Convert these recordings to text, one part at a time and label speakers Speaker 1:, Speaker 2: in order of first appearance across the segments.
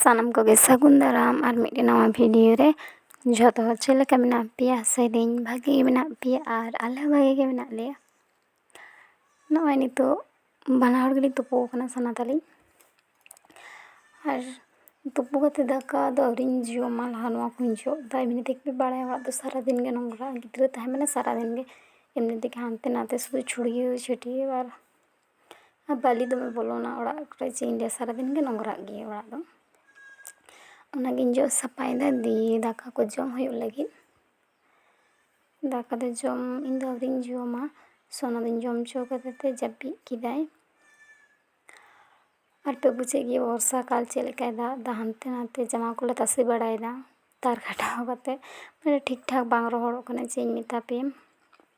Speaker 1: ᱥᱟᱱᱟᱢ ᱠᱚᱜᱮ ᱥᱟᱹᱜᱩᱱ ᱫᱟᱨᱟᱢ ᱟᱨ ᱢᱤᱫᱴᱮᱱ ᱱᱟᱣᱟ ᱵᱷᱤᱰᱤᱭᱳ ᱨᱮ ᱡᱷᱚᱛᱚ ᱦᱚᱲ ᱪᱮᱫ ᱞᱮᱠᱟ ᱢᱮᱱᱟᱜ ᱯᱮᱭᱟ ᱥᱮᱨᱮᱧ ᱵᱷᱟᱜᱮ ᱜᱮ ᱢᱮᱱᱟᱜ ᱯᱮᱭᱟ ᱟᱨ ᱟᱞᱮ ᱦᱚᱸ ᱵᱷᱟᱜᱮ ᱜᱮ ᱢᱮᱱᱟᱜ ᱞᱮᱭᱟ ᱱᱚᱜᱼᱚᱭ ᱱᱤᱛᱚᱜ ᱵᱟᱱᱟ ᱦᱚᱲ ᱜᱮᱞᱮ ᱛᱩᱯᱩ ᱟᱠᱟᱱᱟ ᱥᱟᱱᱟ ᱛᱟᱹᱞᱤᱧ ᱟᱨ ᱛᱩᱯᱩ ᱠᱟᱛᱮ ᱫᱟᱠᱟ ᱫᱚ ᱟᱹᱣᱨᱤᱧ ᱡᱚᱢᱟ ᱞᱟᱦᱟ ᱱᱚᱣᱟ ᱠᱚᱧ ᱡᱚᱜ ᱮᱫᱟ ᱮᱢᱱᱤ ᱛᱮᱜᱮ ᱯᱮ ᱵᱟᱲᱟᱭᱟ ᱚᱲᱟᱜ ᱫᱚ ᱥᱟᱨᱟ ᱫᱤᱱ ᱜᱮ ᱱᱚᱝᱨᱟ ᱜᱤᱫᱽᱨᱟᱹ ᱛᱟᱦᱮᱸ ᱢᱟᱱᱮ ᱥᱟᱨᱟ ᱫᱤᱱ ᱜᱮ ᱮᱢᱱᱤ ᱛᱮᱜᱮ ᱦᱟᱱᱛᱮ ᱱᱟᱛᱮ ᱥᱩᱫᱷᱩ ᱪᱷᱩᱲᱭᱟᱹᱣ ᱪᱷᱟᱹᱴᱭᱟᱹᱣ ᱟᱨ ᱟᱨ ᱵᱟᱹᱞᱤ ᱫᱚᱢᱮ ᱵᱚᱞᱚᱱᱟ ᱚᱲᱟᱜ ᱠᱚᱨᱮ ᱪᱮᱫ ᱤᱧ ᱞᱟᱹᱭᱟ ᱥᱟᱨᱟ ᱫᱤᱱ ᱜᱮ ᱱᱚᱝᱨᱟᱜ ᱜᱮᱭᱟ ᱚᱲᱟᱜ ᱫᱚ ᱚᱱᱟ ᱜᱤᱧ ᱡᱚᱜ ᱥᱟᱯᱷᱟᱭᱮᱫᱟ ᱫᱤᱭᱮ ᱫᱟᱠᱟ ᱠᱚ ᱡᱚᱢ ᱦᱩᱭᱩᱜ ᱞᱟᱹᱜᱤᱫ ᱫᱟᱠᱟ ᱫᱚ ᱡᱚᱢ ᱤᱧ ᱫᱚ ᱟᱹᱣᱨᱤᱧ ᱡᱚᱢᱟ ᱥᱳᱱᱟ ᱫᱩᱧ ᱡᱚᱢ ᱦᱚᱪᱚ ᱠᱟᱫᱮ ᱛᱮ ᱡᱟᱹᱯᱤᱫ ᱠᱮᱫᱟᱭ ᱟᱨ ᱯᱮ ᱵᱩᱡᱮᱫ ᱜᱮᱭᱟ ᱵᱚᱨᱥᱟ ᱠᱟᱞ ᱪᱮᱫ ᱞᱮᱠᱟᱭ ᱫᱟᱜ ᱮᱫᱟ ᱦᱟᱱᱛᱮ ᱱᱟᱛᱮ ᱡᱟᱢᱟ ᱠᱚᱞᱮ ᱛᱟᱥᱮ ᱵᱟᱲᱟᱭᱮᱫᱟ ᱛᱟᱨ ᱠᱷᱟᱴᱟᱣ ᱠᱟᱛᱮ ᱢᱟᱱᱮ ᱴᱷᱤᱠ ᱴᱷᱟᱠ ᱵᱟᱝ ᱨᱚᱦᱚᱲᱚᱜ ᱠᱟᱱᱟ ᱪᱮᱫ ᱤᱧ ᱢᱮᱛᱟ ᱯᱮᱭᱟ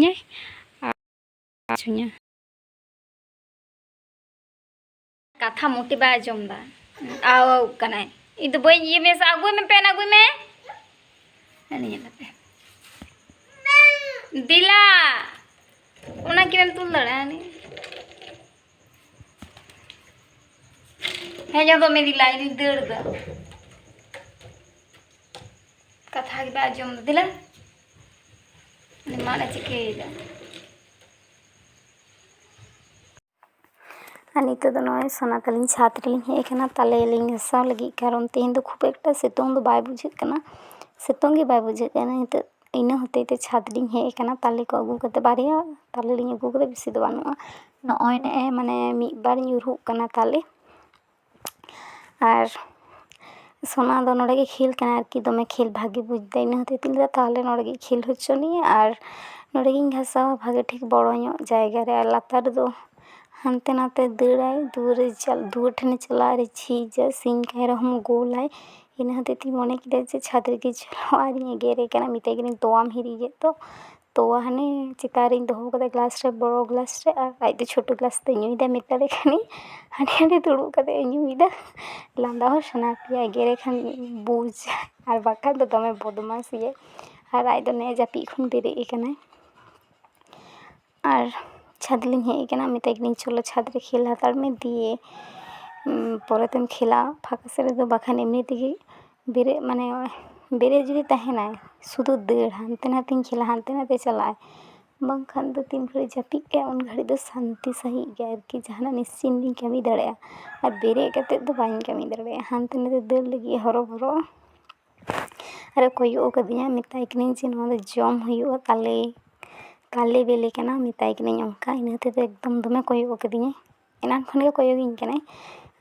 Speaker 1: ᱧᱟᱹᱭ ᱟᱪᱷᱩᱧᱟ ᱠᱟᱛᱷᱟ ᱢᱚᱴᱤ ᱵᱟᱭ ᱟᱸᱡᱚᱢ ᱫᱟ ᱟᱣ ᱠᱟᱱᱟᱭ ᱤᱧ ᱫᱚ ᱵᱟᱹᱧ ᱤᱭᱟᱹ ᱢᱮᱥᱟ ᱟᱹᱜᱩᱭ ᱢᱮ ᱯᱮᱱ ᱟᱹᱜᱩᱭ ᱢᱮ ᱧᱮᱞ ᱞᱮᱯᱮ ᱫᱤᱞᱟ ᱚᱱᱟ ᱠᱤᱱᱮᱢ ᱛᱩᱞ ᱫᱟᱲᱮᱭᱟᱜᱼᱟ ᱦᱮᱸ ᱫᱚ ᱢᱮᱫᱤ ᱞᱟᱭ ᱫᱩᱧ ᱫᱟᱹᱲ ᱫᱟ ᱠᱟᱛᱷᱟ ᱜᱮ ᱵᱟᱭ ᱟᱸᱡᱚᱢ ᱫᱤᱞᱟ ᱩᱱᱤ ᱢᱟᱱᱮ ᱪᱤᱠᱟᱹᱭᱮᱫᱟ ᱟᱨ ᱱᱤᱛᱚᱜ ᱫᱚ ᱱᱚᱜᱼᱚᱭ ᱥᱚᱱᱟ ᱛᱟᱹᱞᱤᱧ ᱪᱷᱟᱫᱽ ᱨᱮᱞᱤᱧ ᱦᱮᱡ ᱟᱠᱟᱱᱟ ᱛᱟᱞᱮ ᱞᱤᱧ ᱜᱷᱟᱥᱟᱣ ᱞᱟᱹᱜᱤᱫ ᱠᱟᱨᱚᱱ ᱛᱮᱦᱮᱧ ᱫᱚ ᱠᱷᱩᱵ ᱮᱠᱴᱟ ᱥᱤᱛᱩᱝ ᱫᱚ ᱵᱟᱭ ᱵᱩᱡᱷᱟᱹᱜ ᱠᱟᱱᱟ ᱥᱤᱛᱩᱝ ᱜᱮ ᱵᱟᱭ ᱵᱩᱡᱷᱟᱹᱜ ᱠᱟᱱᱟ ᱱᱤᱛᱚᱜ ᱤᱱᱟᱹ ᱦᱚᱛᱮᱡ ᱛᱮ ᱪᱷᱟᱫᱽ ᱞᱤᱧ ᱦᱮᱡ ᱠᱟᱱᱟ ᱛᱟᱞᱮ ᱠᱚ ᱟᱹᱜᱩ ᱠᱟᱛᱮ ᱵᱟᱨᱭᱟ ᱛᱟᱞᱮ ᱞᱤᱧ ᱟᱹᱜᱩ ᱠᱟᱫᱟ ᱵᱮᱥᱤ ᱫᱚ ᱵᱟᱹᱱᱩᱜᱼᱟ ᱱᱚᱜᱼᱚᱭ ᱱᱮᱜᱼᱮ ᱢᱟᱱᱮ ᱢᱤᱫ ᱵᱟᱨ ᱧᱩᱨᱦᱩᱜ ᱠᱟᱱᱟ ᱛᱟᱞᱮ ᱟᱨ ᱥᱳᱱᱟ ᱫᱚ ᱱᱚᱰᱮ ᱜᱮ ᱠᱷᱮᱞ ᱠᱟᱱᱟᱭ ᱟᱨᱠᱤ ᱫᱚᱢᱮ ᱠᱷᱮᱞ ᱵᱷᱟᱜᱮ ᱵᱩᱡᱽ ᱫᱟᱭ ᱤᱱᱟᱹ ᱦᱚᱛᱮᱡ ᱛᱤᱧ ᱞᱟᱹᱭᱫᱟ ᱛᱟᱦᱚᱞᱮ ᱱᱚᱰᱮ ᱜᱮ ᱠᱷᱮᱞ ᱦᱚᱪᱚᱱᱤᱭᱮ ᱟᱨ ᱱᱚᱰᱮ ᱜᱤᱧ ᱜᱷᱟᱥᱟᱣᱟ ᱵᱷᱟᱜᱮ ᱴᱷᱤᱠ ᱵᱚᱲᱚ ᱧᱚᱜ ᱡᱟᱭᱜᱟ ᱨᱮ ᱟᱨ ᱞᱟᱛᱟᱨ ᱨᱮᱫᱚ ᱦᱟᱱᱛᱮ ᱱᱟᱛᱮ ᱫᱟᱹᱲᱟᱭ ᱫᱩᱣᱟᱹᱨ ᱨᱮ ᱫᱩᱣᱟᱹᱨ ᱴᱷᱮᱱᱮ ᱪᱟᱞᱟᱜᱼᱟ ᱟᱨᱮ ᱡᱷᱤᱡᱟ ᱥᱤᱧ ᱠᱟᱭ ᱨᱮᱦᱚᱸ ᱜᱳᱞᱟᱭ ᱤᱱᱟᱹ ᱦᱚᱛᱮᱡ ᱛᱤᱧ ᱢᱚᱱᱮ ᱠᱮᱫᱟ ᱡᱮ ᱪᱷᱟᱫᱽ ᱨᱮᱜᱮ ᱪᱟᱞᱟᱜᱼᱟ ᱟᱨᱤᱧ ᱮᱜᱮᱨᱮ ᱠᱟᱱᱟ ᱢᱮᱛᱟᱭ ᱠᱟᱹᱱᱟᱹᱧ ᱛᱚᱣᱟᱢ ᱦᱤᱨᱤᱡ ᱮᱫ ᱫᱚ ᱛᱚᱣᱟ ᱦᱟᱱᱮ ᱪᱮᱛᱟᱱ ᱨᱤᱧ ᱫᱚᱦᱚ ᱠᱟᱫᱟ ᱜᱞᱟᱥ ᱨᱮ ᱵᱚᱲᱚ ᱜᱞᱟᱥ ᱨᱮ ᱟᱨ ᱟᱡ ᱫᱚ ᱪᱷᱳᱴᱳ ᱜᱞᱟᱥ ᱛᱮᱭ ᱧᱩᱭᱫᱟ ᱢᱮᱛᱟᱞᱮ ᱠᱟᱹᱱᱟᱹᱧ ᱦᱟᱸᱰᱮ ᱱᱟᱰᱮ ᱫᱩᱲᱩᱵ ᱠᱟᱛᱮ ᱮ ᱧᱩᱭᱫᱟ ᱞᱟᱸᱫᱟ ᱦᱚᱸ ᱥᱟᱱᱟ ᱯᱮᱭᱟ ᱮᱜᱮᱨᱮ ᱠᱷᱟᱱ ᱵᱩᱡᱽ ᱟᱨ ᱵᱟᱠᱷᱟᱡ ᱫᱚ ᱫᱚᱢᱮ ᱵᱚᱫᱢᱟᱥ ᱜᱮᱭᱟᱭ ᱟᱨ ᱟᱡ ᱫᱚ ᱱᱮᱜᱼᱮ ᱡᱟᱹᱯᱤᱫ ᱠᱷᱚᱱ ᱵᱮᱨᱮᱫ ᱠᱟᱱᱟᱭ ᱟᱨ ᱪᱷᱟᱫᱽ ᱞᱤᱧ ᱦᱮᱡ ᱠᱟᱱᱟ ᱢᱮᱛᱟᱭ ᱠᱟᱹᱱᱟᱹᱧ ᱪᱚᱞᱚ ᱪᱷᱟᱫᱽ ᱨᱮ ᱠᱷᱮᱞ ᱦᱟᱛᱟᱲ ᱢᱮ ᱫᱤᱭᱮ ᱯᱚᱨᱮ ᱛᱮᱢ ᱠᱷᱮᱞᱟ ᱯᱷᱟᱸᱠᱟ ᱥᱮᱫ ᱨᱮᱫᱚ ᱵᱟᱠᱷᱟᱱ ᱮᱢᱱᱤ ᱛᱮᱜᱮ ᱵᱮᱨᱮᱫ ᱢᱟᱱᱮ ᱵᱮᱨᱮᱫ ᱡᱩᱫᱤ ᱛᱟᱦᱮᱱᱟᱭ ᱥᱩᱫᱷᱩ ᱫᱟᱹᱲ ᱦᱟᱱᱛᱮ ᱱᱟᱛᱮᱧ ᱠᱷᱮᱞᱟ ᱦᱟᱱᱛᱮ ᱱᱟᱛᱮ ᱪᱟᱞᱟᱜ ᱟᱭ ᱵᱟᱝᱠᱷᱟᱱ ᱫᱚ ᱛᱤᱱ ᱜᱷᱟᱹᱲᱤᱡ ᱡᱟᱹᱯᱤᱫ ᱠᱟᱜᱼᱟᱭ ᱩᱱ ᱜᱷᱟᱹᱲᱤᱡ ᱫᱚ ᱥᱟᱱᱛᱤ ᱥᱟᱺᱦᱤᱡ ᱜᱮ ᱟᱨᱠᱤ ᱡᱟᱦᱟᱱᱟᱜ ᱱᱤᱥᱪᱤᱱᱛ ᱜᱤᱧ ᱠᱟᱹᱢᱤ ᱫᱟᱲᱮᱭᱟᱜᱼᱟ ᱟᱨ ᱵᱮᱨᱮᱫ ᱠᱟᱛᱮᱫ ᱫᱚ ᱵᱟᱹᱧ ᱠᱟᱹᱢᱤ ᱫᱟᱲᱮᱭᱟᱜᱼᱟ ᱦᱟᱱᱛᱮ ᱱᱟᱛᱮ ᱫᱟᱹᱲ ᱞᱟᱹᱜᱤᱫ ᱦᱚᱨᱚᱵᱚᱨᱚ ᱟᱨᱮ ᱠᱚᱭᱚᱜ ᱠᱟᱹᱫᱤᱧᱟ ᱢᱮᱛᱟᱭ ᱠᱟᱹᱱᱟᱹᱧ ᱡᱮ ᱱᱚᱣᱟ ᱫᱚ ᱡᱚᱢ ᱦᱩᱭᱩᱜᱼᱟ ᱛᱟᱞᱮ ᱛᱟᱞᱮ ᱵᱤᱞᱤ ᱠᱟᱱᱟ ᱢᱮᱛᱟᱭ ᱠᱟᱹᱱᱟᱹᱧ ᱚᱱᱠᱟ ᱤᱱᱟᱹ ᱦᱚᱛᱮᱡ ᱛᱮ ᱮᱠᱫᱚᱢ ᱫᱚᱢᱮ ᱠᱚᱭᱚᱜ ᱠᱟᱹᱫᱤᱧᱟᱭ ᱮᱱᱟᱱ ᱠᱷᱚᱱ ᱜᱮ ᱠᱚᱭᱚᱜ ᱤᱧ ᱠᱟᱱᱟᱭ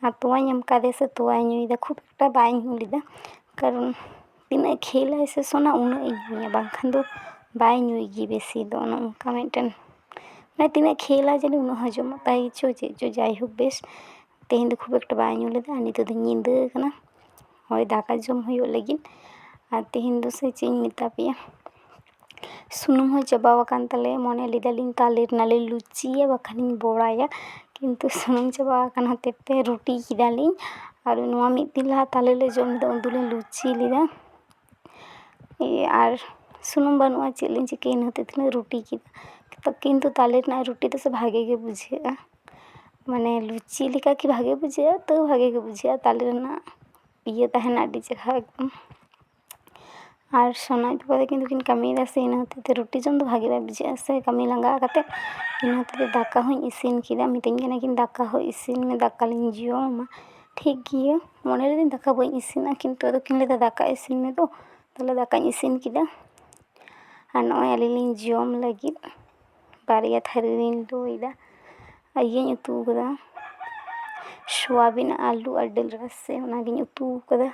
Speaker 1: ᱟᱨ ᱛᱚᱣᱟᱧ ᱮᱢ ᱠᱟᱣᱫᱮᱭᱟ ᱥᱮ ᱛᱚᱣᱟᱭ ᱧᱩᱭᱮᱫᱟ ᱠᱷᱩᱵ ᱮᱠᱴᱟ ᱵᱟᱭ ᱧᱩ ᱞᱮᱫᱟ ᱠᱟᱨᱚᱱ ᱛᱤᱱᱟᱹᱜ ᱠᱷᱮᱞ ᱟᱭ ᱥᱮ ᱥᱚᱱᱟ ᱩᱱᱟᱹᱜ ᱤᱧ ᱧᱩᱭᱟ ᱵᱟᱝᱠᱷᱟᱱ ᱫᱚ ᱵᱟᱭ ᱧᱩᱭ ᱜᱮᱭᱟ ᱵᱮᱥᱤ ᱫᱚ ᱚᱱᱮ ᱚᱱᱠᱟ ᱢᱤᱫᱴᱮᱱ ᱢᱟᱱᱮ ᱛᱤᱱᱟᱹᱜ ᱠᱷᱮᱞ ᱟᱭ ᱡᱟᱹᱱᱤᱡ ᱩᱱᱟᱹᱜ ᱦᱚᱡᱚᱢᱚᱜ ᱛᱟᱭ ᱪᱚ ᱪᱮᱫ ᱪᱚ ᱡᱟᱭᱦᱳᱠ ᱵᱮᱥ ᱛᱮᱦᱮᱧ ᱫᱚ ᱠᱷᱩᱵ ᱮᱠᱴᱟ ᱵᱟᱭ ᱧᱩ ᱞᱮᱫᱟ ᱟᱨ ᱱᱤᱛᱚᱜ ᱫᱚ ᱧᱤᱫᱟᱹ ᱠᱟᱱᱟ ᱦᱳᱭ ᱫᱟᱠᱟ ᱡᱚᱢ ᱦᱩᱭᱩᱜ ᱞᱟᱹᱜᱤᱫ ᱟᱨ ᱛᱮᱦᱮᱧ ᱫᱚ ᱥᱮ ᱪᱮᱫ ᱤᱧ ᱢᱮᱛᱟ ᱯᱮᱭᱟ ᱥᱩᱱᱩᱢ ᱦᱚᱸ ᱪᱟᱵᱟ ᱟᱠᱟᱱ ᱛᱟᱞᱮᱭᱟ ᱢᱚᱱᱮ ᱞᱮᱫᱟᱞᱤᱧ ᱛᱟᱞᱮ ᱨᱮᱱᱟᱜ ᱞᱮ ᱞᱩᱪᱤᱭᱟ ᱵᱟᱠᱷᱟᱱ ᱤᱧ ᱵᱚᱲᱟᱭᱟ ᱠᱤᱱᱛᱩ ᱥᱩᱱᱩᱢ ᱪᱟᱵᱟ ᱟᱠᱟᱱ ᱦᱚᱛᱮᱫ ᱛᱮ ᱨᱩᱴᱤ ᱠᱮᱫᱟᱞᱤᱧ ᱟᱨ ᱱᱚᱣᱟ ᱢᱤᱫ ᱫᱤᱱ ᱞᱟᱦᱟ ᱛᱟᱞᱮ ᱞᱮ ᱡᱚᱢ ᱞᱮᱫᱟ ᱩᱱ ᱫᱚᱞᱤᱧ ᱞᱩᱪᱤ ᱞᱮᱫᱟ ᱟᱨ ᱥᱩᱱᱩᱢ ᱵᱟᱹᱱᱩᱜᱼᱟ ᱪᱮᱫ ᱞᱤᱧ ᱪᱤᱠᱟᱹᱭᱟ ᱤᱱᱟᱹ ᱦᱚᱛᱮᱫ ᱛᱮᱞᱤᱧ ᱨᱩᱴᱤ ᱠᱮᱫᱟ ᱠᱤᱱᱛᱩ ᱛᱟᱞᱮ ᱨᱮᱱᱟᱜ ᱨᱩᱴᱤ ᱫᱚᱥᱮ ᱵᱷᱟᱜᱮ ᱜᱮ ᱵᱩᱡᱷᱟᱹᱜᱼᱟ ᱢᱟᱱᱮ ᱞᱩᱪᱤ ᱞᱮᱠᱟ ᱠᱤ ᱵᱷᱟᱜᱮ ᱵᱩᱡᱷᱟᱹᱜᱼᱟ ᱛᱟᱹᱣ ᱵᱷᱟᱜᱮ ᱜᱮ ᱵᱩᱡᱷᱟᱹᱜᱼᱟ ᱛᱟᱞᱮ ᱨᱮᱱᱟᱜ ᱤᱭᱟᱹ ᱛᱟᱦᱮᱱᱟ ᱟᱹᱰᱤ ᱪᱮᱦᱨᱟ ᱮᱠᱫᱚᱢ ᱟᱨ ᱥᱳᱱᱟ ᱟᱡ ᱵᱟᱵᱟ ᱛᱟᱹᱠᱤᱱ ᱫᱚᱠᱤᱱ ᱠᱟᱹᱢᱤᱭᱮᱫᱟ ᱥᱮ ᱤᱱᱟᱹ ᱦᱚᱛᱮᱡ ᱛᱮ ᱨᱩᱴᱤ ᱡᱚᱢ ᱫᱚ ᱵᱷᱟᱜᱮ ᱵᱟᱭ ᱵᱩᱡᱷᱟᱹᱜᱼᱟ ᱥᱮ ᱠᱟᱹᱢᱤ ᱞᱟᱸᱜᱟ ᱠᱟᱛᱮ ᱤᱱᱟᱹ ᱦᱚᱛᱮᱡ ᱛᱮ ᱫᱟᱠᱟ ᱦᱚᱸᱧ ᱤᱥᱤᱱ ᱠᱮᱫᱟ ᱢᱤᱛᱟᱹᱧ ᱠᱟᱱᱟ ᱠᱤᱱ ᱫᱟᱠᱟ ᱦᱚᱸ ᱤᱥᱤᱱ ᱢᱮ ᱫᱟᱠᱟ ᱞᱤᱧ ᱡᱚᱢᱟ ᱴᱷᱤᱠ ᱜᱮᱭᱟ ᱢᱚᱱᱮ ᱞᱤᱫᱟᱹᱧ ᱫᱟᱠᱟ ᱵᱟᱹᱧ ᱤᱥᱤᱱᱟ ᱠᱤᱱᱛᱩ ᱟᱫᱚ ᱠᱤᱱ ᱞᱟᱹᱭᱫᱟ ᱫᱟᱠᱟ ᱤᱥᱤᱱ ᱢᱮ ᱫᱩ ᱛᱟᱦᱚᱞᱮ ᱫᱟᱠᱟᱧ ᱤᱥᱤᱱ ᱠᱮᱫᱟ ᱟᱨ ᱱᱚᱜᱼᱚᱭ ᱟᱹᱞᱤᱧ ᱞᱤᱧ ᱡᱚᱢ ᱞᱟᱹᱜᱤᱫ ᱵᱟᱨᱭᱟ ᱛᱷᱟᱹᱨᱤ ᱨᱤᱧ ᱩᱛᱩᱭᱮᱫᱟ ᱟᱨ ᱤᱭᱟᱹᱧ ᱩᱛᱩ ᱟᱠᱟᱫᱟ ᱥᱳᱣᱟᱵᱤᱱ ᱟᱹᱞᱩ ᱟᱨ ᱫᱟᱹᱞ ᱨᱟᱥᱮ ᱚᱱᱟᱜᱤᱧ ᱩᱛᱩ ᱟᱠᱟᱫᱟ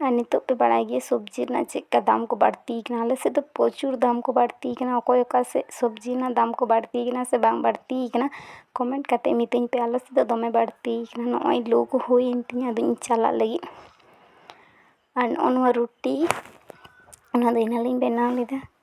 Speaker 1: ᱟᱨ ᱱᱤᱛᱚᱜ ᱯᱮ ᱵᱟᱲᱟᱭ ᱜᱮᱭᱟ ᱥᱚᱵᱽᱡᱤ ᱨᱮᱱᱟᱜ ᱪᱮᱫ ᱞᱮᱠᱟ ᱫᱟᱢ ᱠᱚ ᱵᱟᱹᱲᱛᱤ ᱟᱠᱟᱱᱟ ᱟᱞᱮ ᱥᱮᱫ ᱫᱚ ᱯᱨᱚᱪᱩᱨ ᱫᱟᱢ ᱠᱚ ᱵᱟᱹᱲᱛᱤ ᱟᱠᱟᱱᱟ ᱚᱠᱚᱭ ᱚᱠᱟ ᱥᱮᱫ ᱥᱚᱵᱽᱡᱤ ᱨᱮᱱᱟᱜ ᱫᱟᱢ ᱠᱚ ᱵᱟᱹᱲᱛᱤ ᱟᱠᱟᱱᱟ ᱥᱮ ᱵᱟᱝ ᱵᱟᱹᱲᱛᱤ ᱟᱠᱟᱱᱟ ᱠᱚᱢᱮᱱᱴ ᱠᱟᱛᱮᱫ ᱢᱤᱛᱟᱹᱧ ᱯᱮ ᱟᱞᱮ ᱥᱮᱫ ᱫᱚ ᱫᱚᱢᱮ ᱵᱟᱹᱲᱛᱤ ᱟᱠᱟᱱᱟ ᱱᱚᱜᱼᱚᱭ ᱞᱩ ᱠᱚ ᱦᱩᱭᱮᱱ ᱛᱤᱧᱟᱹ ᱟᱫᱚᱧ ᱪᱟᱞᱟᱜ ᱞᱟᱹᱜᱤᱫ ᱟᱨ ᱱᱚᱜᱼᱚ ᱱᱚᱣᱟ ᱨᱩᱴᱤ ᱚᱱᱟᱫᱚ ᱮᱱᱟᱝ ᱨᱤᱧ ᱵᱮᱱᱟᱣ ᱞᱮᱫᱟ